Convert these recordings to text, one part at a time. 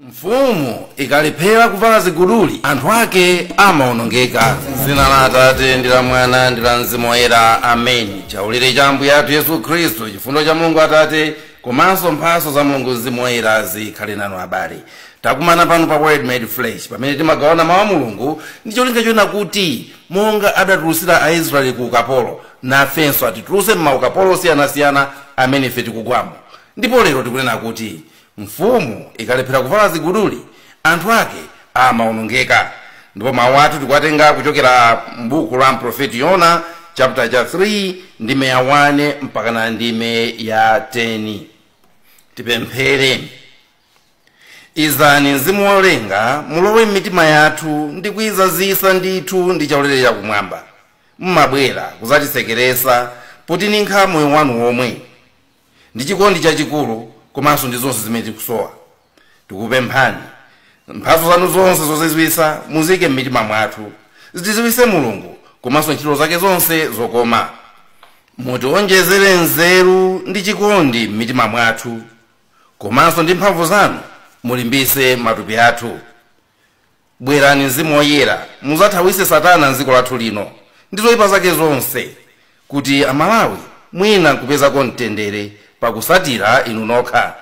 Mfumu ikalephera kuvala ziguduli, anthu ake amaonongeka. M'dzina la Atate, ndi la Mwana, ndi la Mzimu Woyera. Ameni. Chaulere cha Ambuye athu Yesu Khristu, chifundo cha Mulungu Atate, komanso mphatso za Mulungu Mzimu Woyera zikhale nanu abale. Takumana pano pa Word Made Flesh, pamene timagawana mawu a Mulungu ndi cholinga chonena kuti monga adatulutsira Aisraeli ku ukapolo, nafenso atitulutse m'maukapolo osiyanasiyana amene ife tikugwamo. Ndipo lero tikunena kuti mfumu ikalephera kuvala ziguduli anthu ake amaonongeka ndipo mawu athu tikuwatenga kuchokera m'buku la mprofeti yona chapter cha 3 ndime ya 1 mpaka na ndime ya 10 tipemphere izani mzimu wolenga mulowe m'mitima yathu ndi kuizazisa ndithu ndi chaulere chakumwamba mumabwera kuzatisekeretsa potininkha moyo wanu womwe ndi chikondi chachikulu komanso ndi zonse zimene tikusowa tikupemphani mphatso zanu zonse zozizwitsa muziike m'mitima mwathu zitidziwitse mulungu komanso ntchito zake zonse zokoma mutiwonjezere nzeru ndi chikondi m'mitima mwathu komanso ndi mphamvu zanu mulimbitse matupi athu Bwerani Mzimu Woyera mudzathawitse satana m'dziko lathu lino ndi zoipa zake zonse kuti a Malawi mwina nkupezako mtendere pakutsatira inu nokha.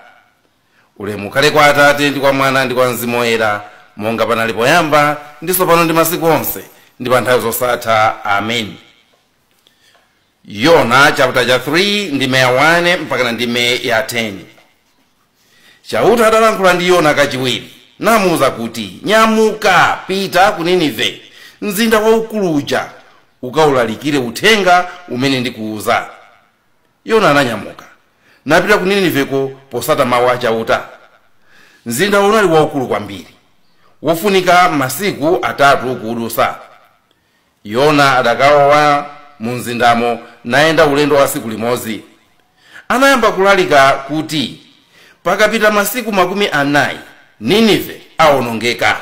Ulemu ukhale kwa Atate ndi kwa Mwana ndi kwa Mzimu Woyera monga panali poyamba ndi tsopano ndi masiku onse ndi panthawi zosatha Amen. Yona chapter cha 3 ndime ya 1 mpakana ndime ya 10. Chauta adalankhula ndi Yona kachiwiri, namuuza kuti, Nyamuka, pita ku Ninive, mzinda waukulu uja, ukaulalikire uthenga umene ndikuuza. Yona ananyamuka, napita ku Niniveko potsata mau a Chauta. Mzindawo unali waukulu kwambiri, wofunika masiku atatu kuudutsa. Yona adakalowa mumzindamo nayenda ulendo wa tsiku limodzi. Anayamba kulalika kuti, Pakapita masiku makumi anai, Ninive aonongeka.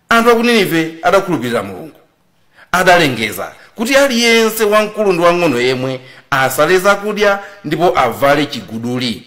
Anthu a ku Ninive adakhulupirira Mulungu. Adalengeza kuti aliyense wamkulu ndi wang'ono yemwe, asale zakudya ndipo avale chiguduli.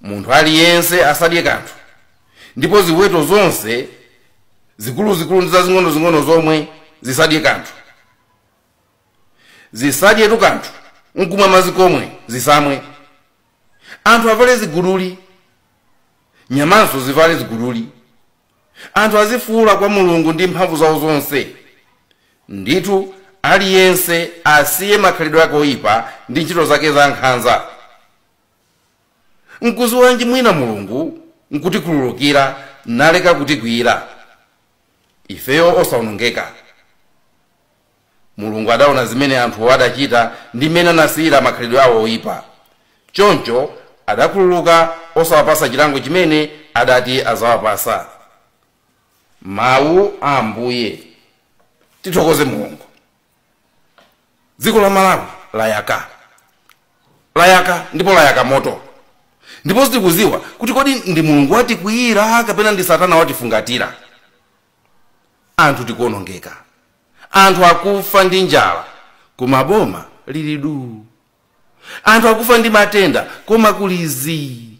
munthu aliyense asadye kanthu ndipo ziweto zonse zikuluzikulu ndi zazing'onozing'ono zomwe zisadye kanthu zisadyetu kanthu nkumwa madzi komwe zisamwe anthu avale ziguduli nyamanso zivale ziguduli anthu azifuula kwa mulungu ndi mphamvu zawo zonse ndithu aliyense asiye makhalidwe ake oyipa ndi ntchito zake za nkhanza Nkudziwanji mwina Mulungu nkutikhululukira naleka kutikwiira ifeyo osaonongeka? Mulungu adaona zimene anthuwo adachita ndi mmene anasiyira makhalidwe awo oipa. Choncho adakhululuka osawapatsa chilango chimene adati adzawapatsa. Mau a Ambuye. Tithokoze Mulungu. dziko la malawi layaka layaka ndipo layaka moto ndipo sitikuziwa kuti kodi ndi mulungu watikwiyira kapena ndi satana watifungatira anthu tikuonongeka anthu akufa ndi njala koma boma lili duu anthu akufa ndi matenda koma kuli zii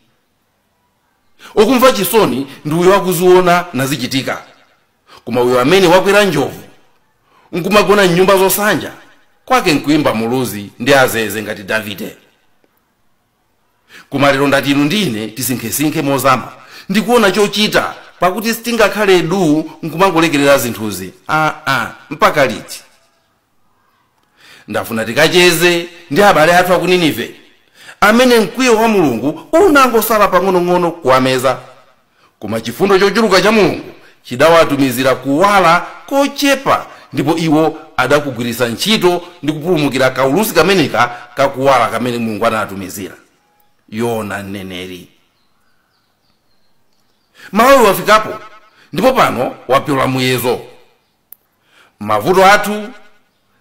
okumva chisoni ndi uyo akuziona nazichitika koma uyo amene wakwera njovu nkumagona mnyumba zosanja kwake nkuimba muluzi ndi zeze ngati davide koma lero ndati inu ndi ine tisinkhesinkhe mozama ndikuona chochita pakuti sitingakhale du nkumangolekerera zinthuzi aa mpaka liti ndafuna tikacheze ndi abale athu a ku ninive amene mkwiyo wa mulungu unangosala pang'onong'ono kuwameza koma chifundo chochuluka cha mulungu chidawatumizira kuwala kochepa ndipo iwo adakugwiritsa ntchito ndi kupulumukira kaulusi kameneka kakuwala kamene mulungu anatumizira yona mneneri malawi wafikapo ndipo pano wapyola muyezo mavuto athu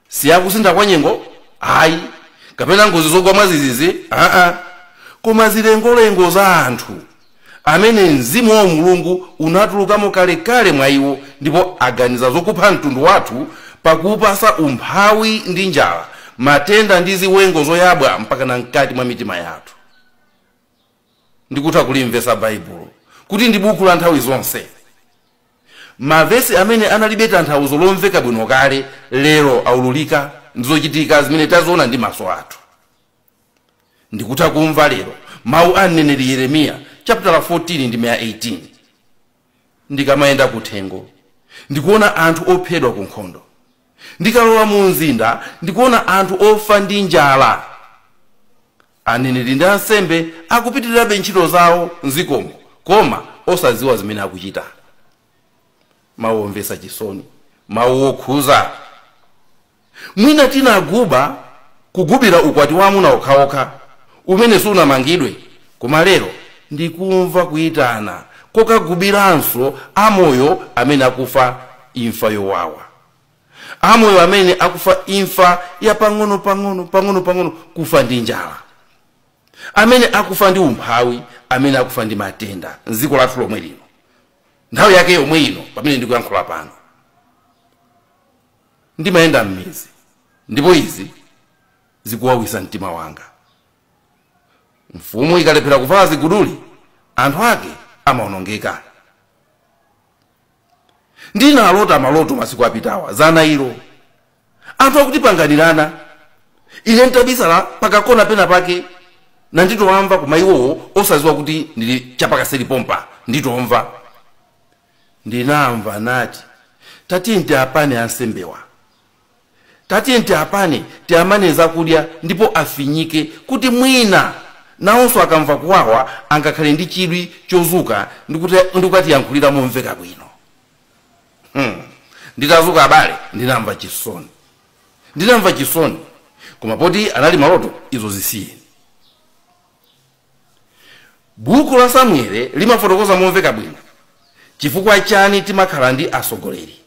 si a kusintha kwa nyengo ayi kapena ngozi zogwa mwazizizi aa koma zilengolengo za anthu amene mzimu wa mulungu unatulukamo kalekale mwa iwo ndipo aganiza zokupha mtundu wathu pakuupasa umphawi ndi njala matenda ndi ziwengo zoyabwa mpaka na mkati mwa mitima yathu ndikutha kulimvetsa Baibulo kuti ndi buku la nthawi zonse. Mavesi amene analibe tanthauzo lomveka bwino kale, lero aululika ndi zochitika zimene taziona ndi maso athu. Ndikutha kumva lero mawu a mneneri Yeremiya chaputala 14 ndime ya 18. Ndikamayenda kuthengo, ndikuona anthu ophedwa ku nkhondo. Ndikalowa mu mzinda, ndikuona anthu ofa ndi njala. Aneneri ndi ansembe akupitirirabe ntchito zawo m'dzikomo koma osadziwa zimene akuchita. Mawu omvetsa chisoni, mawu okhuza. Mwina tinaguba, kugubira ukwati wa amuna okhaokha umene sunamangidwe, koma lero ndikumva kuitana kokagubiranso amoyo amene akufa imfa yowawa, amoyo amene akufa imfa ya pang'onopang'ono, pang'onopang'ono, kufa ndi njala, amene akufa ndi umphawi, amene akufa ndi matenda m'dziko lathu lomwe lino, nthawi yake yomwe ino pamene ndikuyankhula pano. Ndimayenda m'midzi ndipo izi zikuwawisa mtima wanga. Mfumu ikalephera kuvala ziguduli, anthu ake amaonongeka. Ndinalota maloto masiku apitawa za nailo. Anthu akutipanganirana, ine n'tabisala pakakona pena pake nanditoamva koma iwowo osaziwa kuti ndili chapakaseri pompa nditomva. ndinamva nati, tatiyeni tiapane ansembewa, tatiyeni tiapane tiamane zakudya ndipo afinyike kuti mwina nawonso akamva kuwawa angakhale ndi chidwi chozuka ndi kukatiyankhulira momveka bwino. Hmm, nditazuka abale ndinamva chisoni, ndinamva chisoni koma poti anali maloto izo zisiyeni. Buku la Samuele limafotokoza momveka bwino chifukwa chani timakhala ndi asogoleri.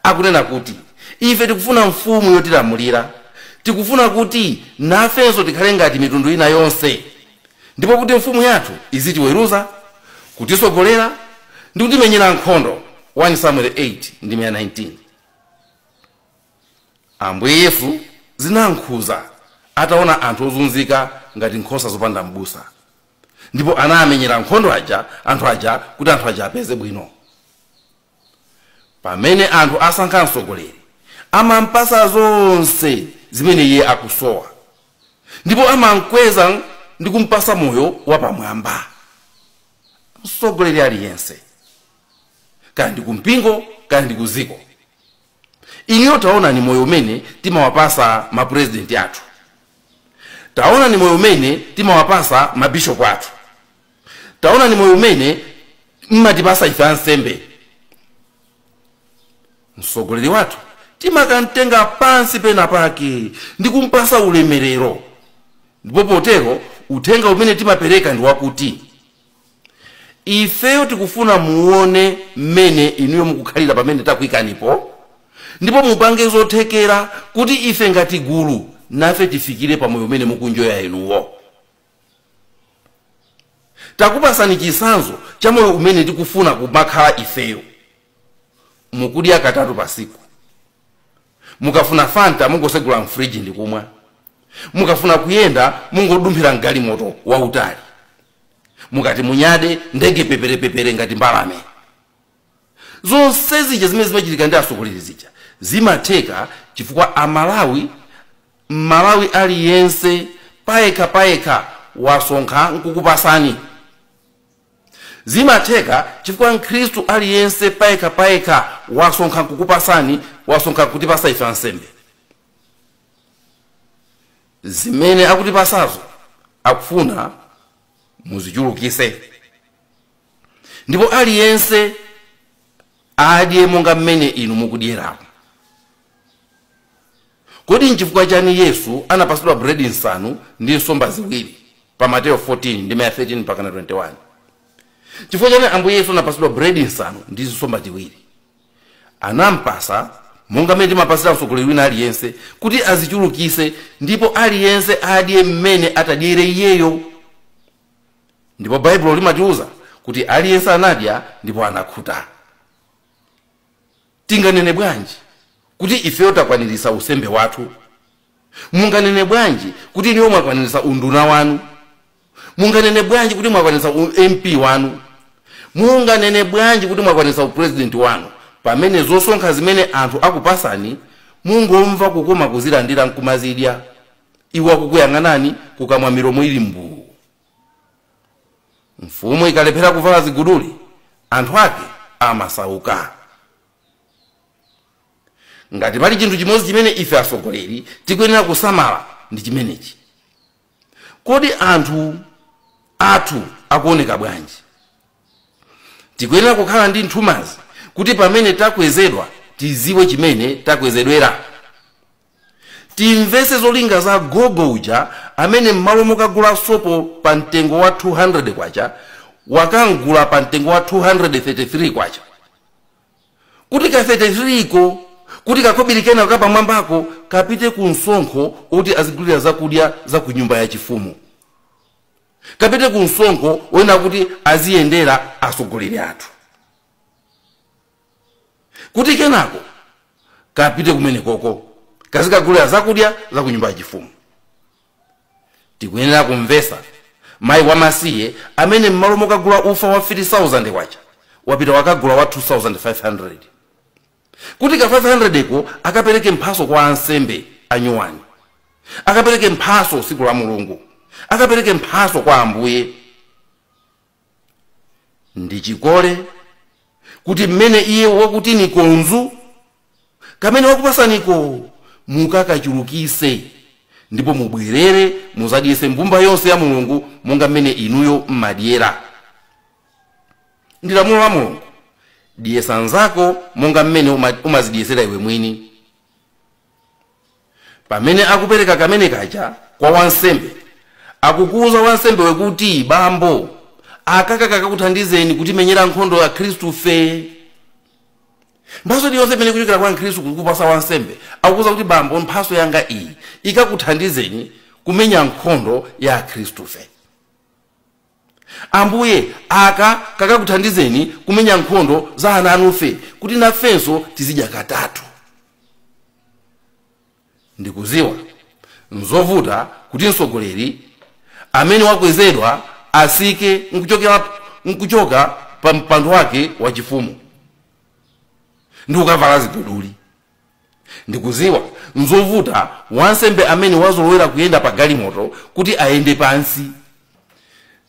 Akunena kuti, Ife tikufuna mfumu yotilamulira. Tikufuna kuti nafenso tikhale ngati mitundu ina yonse, ndipo kuti mfumu yathu izitiweruza, kutisogolera, ndi kutimenyera nkhondo, 1 Samueli 8 ndime ya 19. Ambuye Yesu zinam'khuza ataona anthu ozunzika ngati nkhosa zopanda m'busa, ndipo anamenyera nkhondo aja anthu aja kuti anthu aja apeze bwino. Pamene anthu asankha mtsogoleri, amam'pasa zonse zimene iye akusowa, ndipo amam'kweza ndi kum'pasa moyo wapamwamba. Mtsogoleri aliyense, kaya ndi kumpingo kaya ndi kuziko, Inuyo taonani moyo umene timawapasa mapresidenti athu. Taonani moyo umene timawapasa mabishopu athu. Taonani moyo umene mmatipasa ife ansembe. Msogoleri wathu timakamtenga pansi pena pake ndi kumpasa ulemerero ndipo potero uthenga umene timapereka ndi wakuti, ifeyo tikufuna muone mmene inuyo mukukhalira pamene takuikanipo ndipo mupange zothekera kuti ife ngati gulu nafe tifikire pa moyo umene mukunjoya inuyo takupasani chitsanzo cha moyo umene tikufuna kumakhala ifeyo mukudya katatu pasiku mukafuna fanta mungosegula mfriji ndikumwa mukafuna kuyenda mungodumphira mgalimoto wautali mukati munyade ndege peperepepere ngati mbalame zonse zija zimene zimachitika ndi atsogoleri zija zimatheka chifukwa amalawi mmalawi aliyense payekha payekha wasonkha nkukupasani zimatheka chifukwa mkhristu aliyense payekha payekha wasonkha nkukupasani wasonkha kutipasa ife ansembe zimene akutipasazo akufuna muzichulukise ndipo aliyense adye monga mmene inu mukudyeramo kodi nchifukwa chani yesu anapasidwa buledi nsanu ndi nsomba ziwiri pa mateyo 14 ndime ya 13 mpaka na 21 chifukwa chani ambuye yesu anapasidwa buledi nsanu ndi nsomba ziwiri anampasa monga mmene timapasira mtsogoleri wina aliyense kuti azichulukise ndipo aliyense adye mmene atadyere iyeyo ndipo baibulo limatiuza kuti aliyense anadya ndipo anakhuta tinganene bwanji kuti ifeyo takwanirisa usembe wathu Munganene bwanji kuti inuyo mwakwanilitsa unduna wanu? Munganene bwanji kuti mwakwanilitsa u MP wanu? Munganene bwanji kuti mwakwanilitsa u president wanu pamene zosonkha zimene anthu akupasani mungomva kukoma kuzilandira nkumazidya iwo akukuyang'anani kukamwa milomo ili mbuu. Mfumu ikalephera kuvala ziguduli anthu ake amasauka. ngati pali chinthu chimodzi chimene ife atsogoleri tikuyenera kusamala ndi chimenechi kodi anthu athu akuoneka bwanji tikuyenera kukhala ndi nthumazi kuti pamene takwezedwa tiziwe chimene takwezedwera Timvese zolinga za gogo uja amene mmalo mokagula sopo pa mtengo wa K200 wakamgula pa mtengo wa K233 kuti ka 33 ko kuti kakobili kena kapamwambako kapite ku msonkho oti azigulira zakudya za ku nyumba ya chifumu kapite ku msonkho wina kuti aziyendera atsogoleri athu. kuti kenako kapite kumenekoko kazikagulira zakudya za ku nyumba yachifumu tikuyenera kumvesa mayi wamasiye amene m'malo mokagula ufa wa 3000 kwacha wapita wakagula wa 2500 kuti ka 500 ko akapereke mphaso kwa ansembe anyuwani akapereke mphaso siku la mulungu akapereke mphaso kwa ambuye ndi chikole kuti mmene iye wakuti nikonzu kamene wakupasaniko mukakachulukise ndipo mubwerere muzadyese mbumba yonse ya mulungu monga mmene inuyo mmadyera ndi lamulo la mulungu dyesa nzako monga mmene umazidyesera iwe mwini Pamene akupereka kamene kaja kwa wansembe, akukuuza wansembewe kuti, Bambo, aka kakakuthandizeni kutimenyera nkhondo Akhristu fe. Mphaso iliyonse imene ikuchokera kwa Mkhristu kukupasa wansembe, akukuuza kuti, Bambo, mphaso yanga iyi ikakuthandizeni kumenya nkhondo ya Akhristu fe. Ambuye, aka kakakuthandizeni kumenya nkhondo za ana anufe kuti nafenso tizidya katatu. Ndikuziwa nzovuta kuti mtsogoleri amene wakwezedwa asike nkuchokera nkuchoka pa mpando wake wachifumu ndi kukavala ziguduli Ndikuziwa n'zovuta wansembe amene wazolowera kuyenda pa galimoto kuti ayende pansi.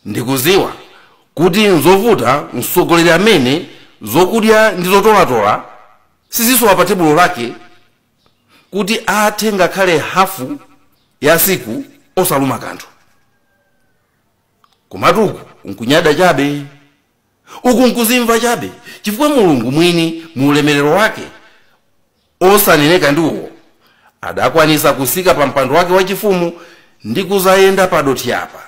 Ndikuziwa kuti n'zovuta mtsogoleri amene zokudya ndi zotolatola sizisowa pa tebulo lake kuti athe ngakhale hafu ya siku osaluma kanthu. Komatu uku n'kunyada chabe. Uku nkuzimva chabe, chifukwa Mulungu mwini mu ulemerero wake osaneneka ndiwo adakwanisa kusika pa mpando wake wachifumu ndi kuzayenda pa dothi apa,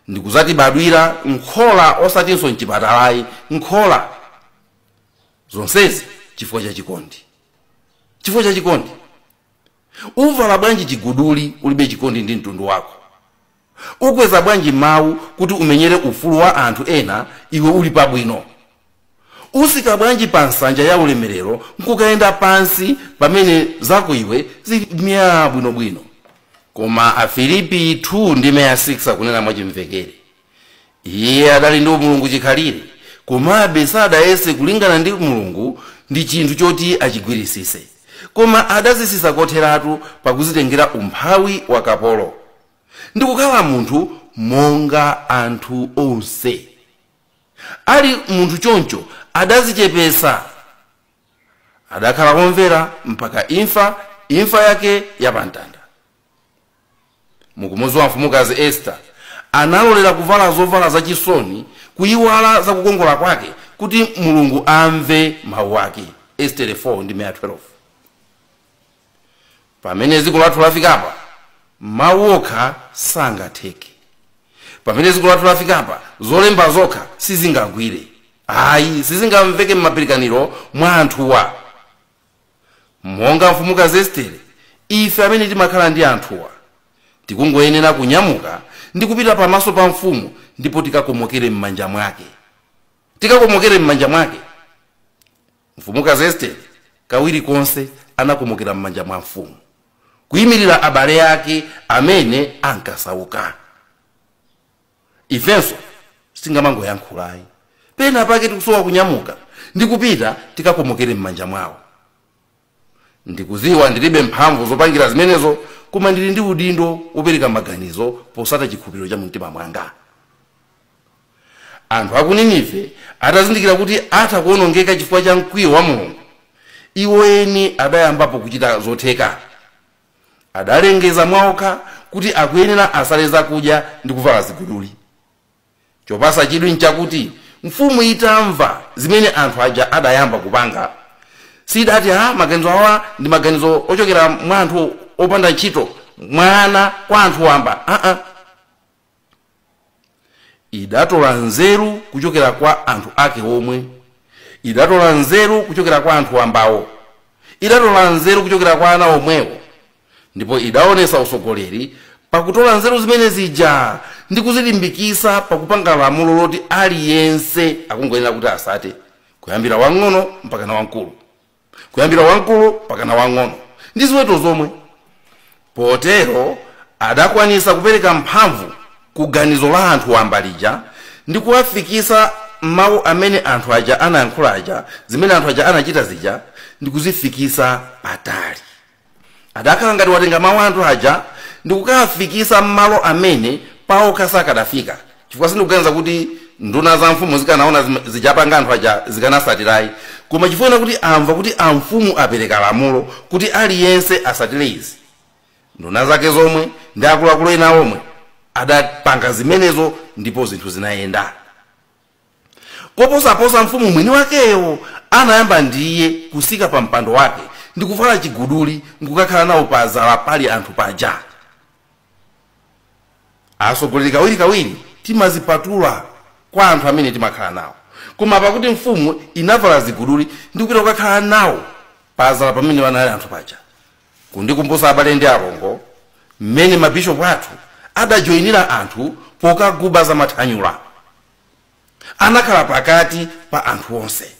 ndi kuzatibadwira m'khola osatinso m'chipatala ayi, m'khola. Zonsezi chifukwa cha chikondi. Chifukwa cha chikondi. Uvala bwanji chiguduli ulibe chikondi ndi mtundu wako? Ukweza bwanji mawu kuti umenyere ufulu wa anthu ena iwe uli pabwino? Usika bwanji pa nsanja ya ulemerero n'kukayenda pansi pamene zako iwe zili myaa bwinobwino? Koma Afilipi 2 ndime ya 6 akunena mwachimvekere, Iye adali ndi umulungu chikhalire, komabe sadayese kulingana ndi Mulungu ndi chinthu choti achigwirisise, koma adazisisa kotheratu pakuzitengera umphawi wa kapolo. ndi kukhala munthu monga anthu onse ali munthu choncho adazichepesa adakhala womvera mpaka imfa imfa yake yapamtanda mukumuziwa mfumukazi estere analolera kuvala zovala zachisoni kuyiwala za kukongola kwake kuti mulungu amve mawu ake estere 4 ndime ya 12 pamene dziko lathu lafikapa mawu okha sangatheke pamene dziko lathu lafikapa zolemba zokha sizingagwire ayi sizingamveke m'mapirikaniro mwa anthuwa monga mfumukazi estere ife amene timakhala ndi anthuwa tikungoyenera kunyamuka ndi kupita pamaso pa mfumu ndipo tikakomokere m'manja mwake tikakomokere m'manja mwake Mfumukazi Estere kawiri konse anakomokera m'manja mwa mfumu, kuimirira abale ake amene ankasauka. Ifenso singamangoyankhula ayi, pena pake tikusowa kunyamuka ndi kupita tikakomokere m'manja mwawo. Ndikuziwa ndilibe mphamvu zopangira zimenezo, koma ndili ndi udindo wopereka maganizo posata chikhulupiriro cha mumtima mwanga. anthu a ku ninive atazindikira kuti atha kuwonongeka chifukwa cha mkwiyo wa mulungu iwo eni adayambapo kuchita zotheka adalengeza mwaokha kuti akuyenera asale zakudya ndi kuvala ziguduli chopasa chidwi nchakuti mfumu itamva zimene anthu aja adayamba kupanga siidati aa maganizo awa ndi maganizo ochokera mwa anthu opanda ntchito mwana kwa anthu wamba aa idatola nzeru kuchokera kwa anthu ake omwe idatola nzeru kuchokera kwa anthu wambawo idatola nzeru kuchokera kwa ana omwewo ndipo idaonesa usogoleri pakutola nzeru zimene zija ndi kuzilimbikisa pakupanga lamulo loti aliyense akungoyenera kuti asate kuyambira wang'ono mpakana wamkulu kuyambira wamkulu mpakana wang'ono ndi ziweto zomwe potero adakwanisa kupereka mphamvu ku ganizo la anthu wamba lija ndi kuwafikisa mawu amene anthu aja anayankhula aja zimene anthu aja anachita zija ndi kuzifikisa patali adakhala ngati watenga mawu a anthu aja ndikukawafikisa mmalo amene paokha sakadafika chifukwa sindikuganiza kuti nduna za mfumu zikanaona zim- zijapanga anthu aja zikanasatirayi koma chifukwa kuti amva kuti amfumu apereka lamulo kuti aliyense asatire izi nduna zake zomwe ndi akuluakulu ena omwe adapanga zimenezo ndipo zinthu zinayenda koposaposa mfumu mwini wakeyo anayamba ndiye kusika pa mpando wake ndikuvala chiguduli nkukakhala nawo pazala pali anthu paja asogoleri kawirikawiri timazipatula kwa anthu amene timakhala nawo koma pakuti mfumu inavala ziguduli ndikupita kukakhala nawo pazala pamene panali anthu paja kundikumbusa abale ndi alongo mmene mabishopu athu adajoyinira anthu pokaguba za mathanyula anakhala pakati pa anthu onse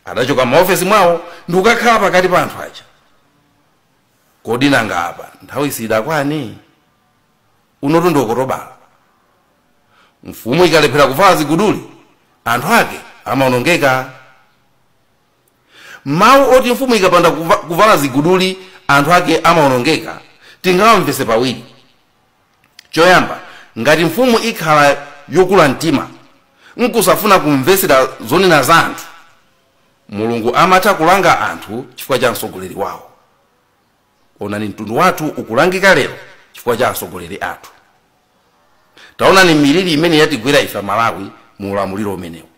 adachoka maofesi mwawo ndikukakhala pakati pa anthu aja kodi nanga apa nthawi siidakwane unotu ndi okotobala mfumu ikalephera kuvala ziguduli anthu ake amaonongeka Mawu oti mfumu ikapanda kuvala ziguduli anthu ake amawonongeka tingawamvetse pawiri. Choyamba, ngati mfumu ikhala yokula mtima nkusafuna kumvetsera zonena za anthu, Mulungu amatha kulanga anthu chifukwa cha mtsogoleri wawo. Onani mtundu wathu ukulangika lero chifukwa cha atsogoleri athu. Taonani miliri imene yatigwera ife Malawi mu ulamuliro umenewu.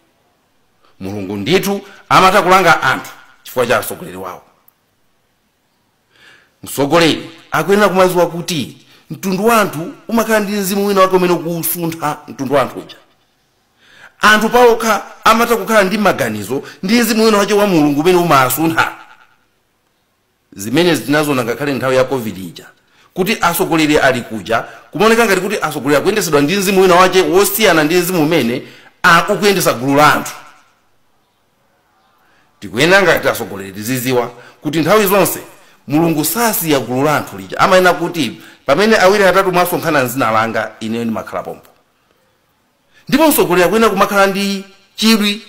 mulungu ndithu amatha kulanga anthu chifukwa cha mtsogoleri wawo mtsogoleri akuyenera kumaziwa kuti mtundu wa anthu umakhala ndi mzimu wina wake umene ukusuntha mtundu wa anthu uja anthu paokha amatha kukhala ndi maganizo ndi mzimu wina wache wa mulungu umene umasuntha Zimenezi tinaziona ngakhale nthawi ya Covid ija kuti atsogoleri ali kuja kumaoneka ngati kuti atsogoleri akuyendetsedwa ndi mzimu wina wache wosiyana ndi mzimu umene a ukuyendetsa gulu la anthu. Tikuyenera ngati atsogoleri tiziziwa kuti nthawi zonse Mulungu sasiya gulu la anthu lija. Amanena kuti pamene awiri atatu mwasonkhana m'dzina langa, ineyo ndimakhala pompo. ndipo mtsogoleri akuyenera kumakhala ndi chidwi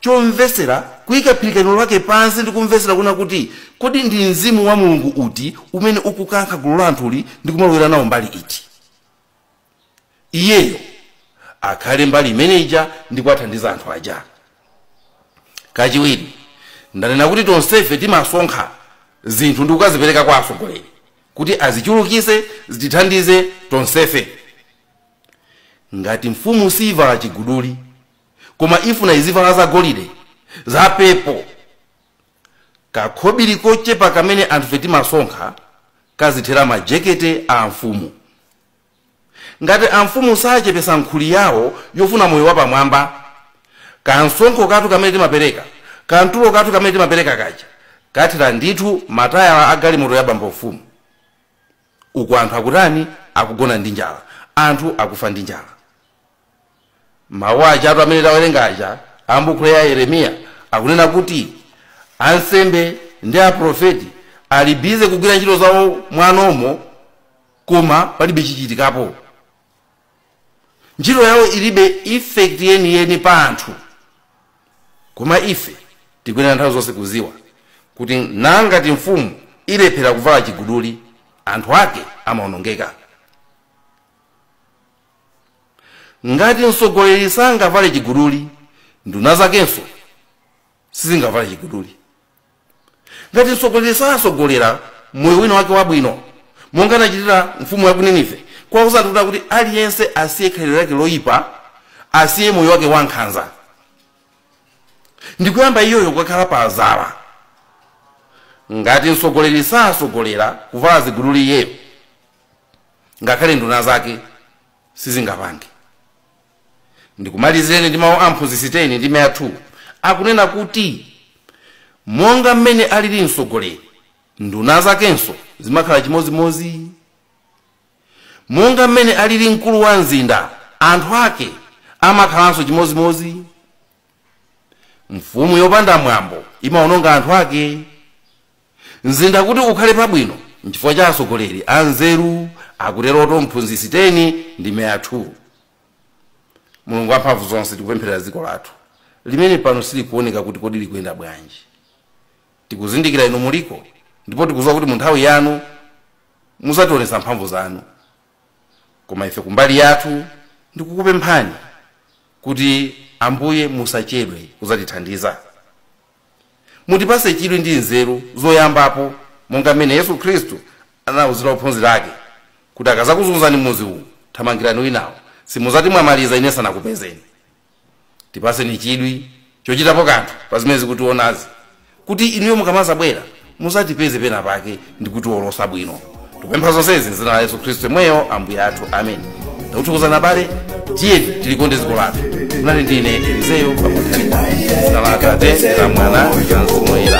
chomvetsera kuyika philikaniro lake pansi ndi kumvetsera kunena kuti kodi ndi mzimu wa mulungu uti umene ukukankha gulu la anthuli ndi kumalowera nawo mbali iti iyeyo akhale mbali imene ija ndi kuwathandiza anthu aja kachiwiri ndanena kuti tonsefe timasonkha zinthu ndi kukazipereka kwa atsogoleri kuti azichulukise zitithandize tonsefe Ngati mfumu siivala chiguduli, koma ifuna izivala za golide, za pepo, kakhobili kochepa kamene anthufe timasonkha kazithera majekete a amfumu. Ngati amfumu sachepesa nkhuli yawo yofuna moyo wapamwamba, kamsonkho kathu kamene timapereka, kamtulo kathu kamene timapereka kaja, kathera ndithu matayala a galimoto ya bambo mfumu. uku anthu akutani akugona ndi njala anthu akufa ndi njala mawu ajatu amene tawerenga aja ambuku ya yeremiya akunena kuti ansembe ndi aprofeti ali bize kugwira ntchito zawo mwanomo koma palibe chichitikapo Ntchito yawo ilibe effect yeni yeni pa anthu. Koma ife tikuyenera nthawi zonse kuziwa kuti ngati mfumu ilephera kuvala chiguduli, anthu ake amaonongeka. Ngati mtsogoleri sangavale chiguduli, nduna zakenso sizingavale chiguduli ngati mtsogoleri satsogolera moyo wina wake wabwino monga anachitira mfumu ya ku ninive kuwauza kutina kuti aliyense asiye khalidwe lake loyipa asiye moyo wake wankhanza ndikuyamba iyoyo kukakhala pa dzala ngati mtsogoleri satsogolera kuvala ziguduli iyeyo ngakhale nduna zake sizingapange Ndikumalizireni ndi mawu a mphunzitsi 10, ndime ya 2, akunena kuti, Monga mmene alili mtsogoleri, nduna zakenso zimakhala chimodzimodzi. Monga mmene alili mkulu wa mzinda, anthu ake amakhalanso chimodzimodzi. Mfumu yopanda mwambo imawononga anthu ake. Mzinda kuti ukhale pabwino nchifukwa cha atsogoleri anzeru, akuteroto mphunzitsi 10 ndime ya 2. Mulungu wamphamvu zonse tikupempherera dziko lathu limene pano silikuoneka kuti kodi likuyenda bwanji. Tikuzindikira inu muliko ndipo tikudziwa kuti munthawi yanu muzationetsa mphamvu zanu koma ife kumbali yathu ndikukupemphani kuti Ambuye musachedwe kuzatithandiza. Mutipatse chidwi ndi nzeru zoyambapo monga mmene Yesu Khristu anauzira ophunzira ake kuti akazakuzunzani m'mudzi uwu, thamangirani winawo, simudzati mwamaliza ine nsanakupezeni. Tipatseni chidwi chochitapo kanthu pa zimene zikutionazi kuti inuyo mukamazabwera muzatipeze pena pake ndi kutiwolosa bwino tikupempha zonsezi m'dzina la yesu khristu yemweyo ambuye athu ameni takuthokozani abale tiyeni tilikonde dziko lathu munali ndi ine elizeyo pa Nthalika m'dzina la atate la mwana la mzimu woyera